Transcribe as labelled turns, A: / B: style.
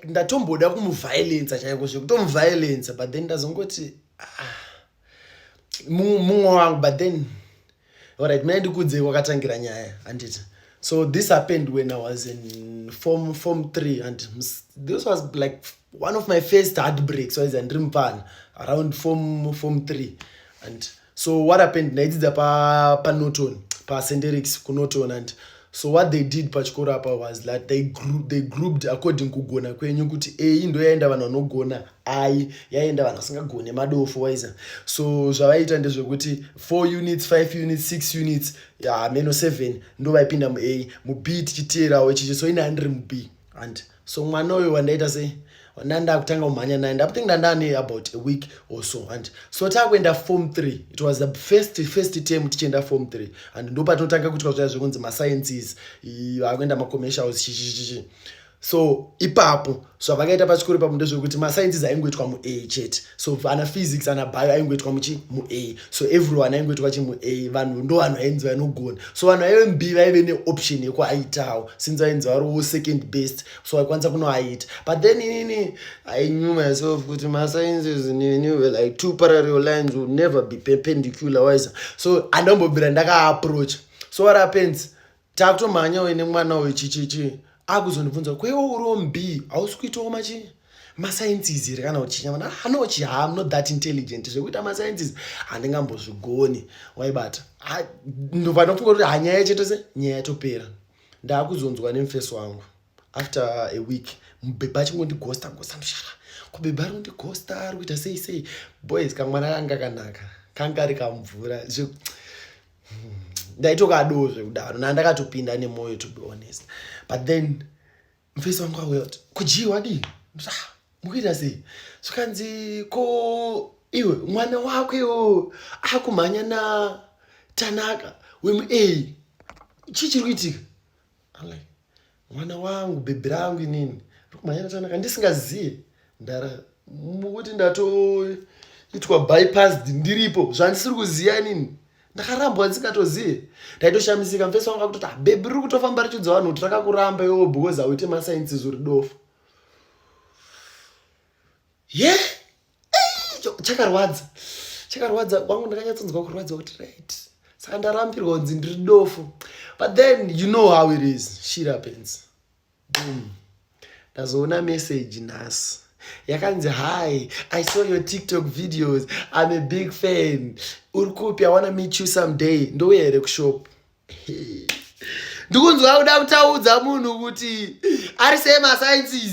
A: ndatomboda kumuvhiolensa chaiko zvekutomuvhiolensa but then ndazongoti ah, mumwe wangu but then orit muna ndikudze kwakatangira nyaya handiti so this happened when i was in form form three and this was like one of my first heartbreaks waiza ndiri mupana around form form three and so what happened ndaidzidza panorton pa pasenderics kunorton and so what they did pachikoro apa was that they, gru they grouped according kugona kwenyu kuti ei ndo yaenda vanhu vanogona ai yaenda vanhu vasingagone madofo waiza so zvavaiita ndezvekuti four units five units six units hameno yeah, seven ndo vaipinda muai mub tichiteerawo ichichi so ini handiri mub and yeah, so mwana uyo wandaita se ndandakutanga kumhanya naye ndakuthink ndandane about a week or so and so takuenda form three it was the first first term tichienda form three and ndopatinotanga kuitwa zviya zvekunzi masciences vakuenda macommercials chichichichi so ipapo zvavakaita so, pachikoro ipapo ndezvekuti masciences aingoitwa muA chete so ana physics ana bio aingoitwa muchi muA so everyone aingoitwa chimu a vanhu ndo vanhu ainzi vainogona so vanhu vaive mb vaive neoption yekuaitawo since vainzi variwo second best so vaikwanisa kunoaita but then inini i knew myself kuti masciences nini were like two parallel lines will never be perpendicular wise so andombobira ndakaaproach so what happens takutomhanya uye nemwana uyu chichichi akuzondibvunza kuti kweiwo uriwo mbi hausi kuitawo machi masciences here kana uchinya mana hano uchi ham not that intelligent zvekuita masciences handingambozvigoni waibata ndovanofunga kuti hanyaya chete se nyaya yatopera ndaakuzonzwa nemufesi wangu after a week mubhebha achingondigosta gosta ndoshara kubhebha ari kundigosta ari kuita sei sei boys kamwana kanga kanaka kanga ari kamvura ndaitokadoo zvekudaro na ndakatopinda nemoyo to be honest but then mfesi wangu auya kuti kujii wadii ah, mukuita sei zvikanzi ko iwe mwana wako iwo akumhanya na tanaka wemu a chii chiri kuitika mwana wangu bhebhi rangu inini rikumhanyira chanaka ndisingaziye ndara mukuti ndatoitwa bypassed ndiripo zvandisiri kuziva inini ndakarambwa ndisingatozive ndaitoshamisika mfesi wangu akutoti ah, bhebhi riri kutofamba richidza vanhu kuti rakakuramba iwowo because hauite masainsi zuri dofo ye yeah. chakarwadza chakarwadza kwangu ndakanyatsonzwa kurwadziwa kuti right saka ndarambirwa kunzi ndiri dofo but then you know how it is shit happens boom ndazoona message nhasi yakanzi hi i saw your tiktok videos im a big fan uri kupi i wanna meet you someday ndouya here kushop ndikunzwa kuda kutaudza munhu kuti ari semasainces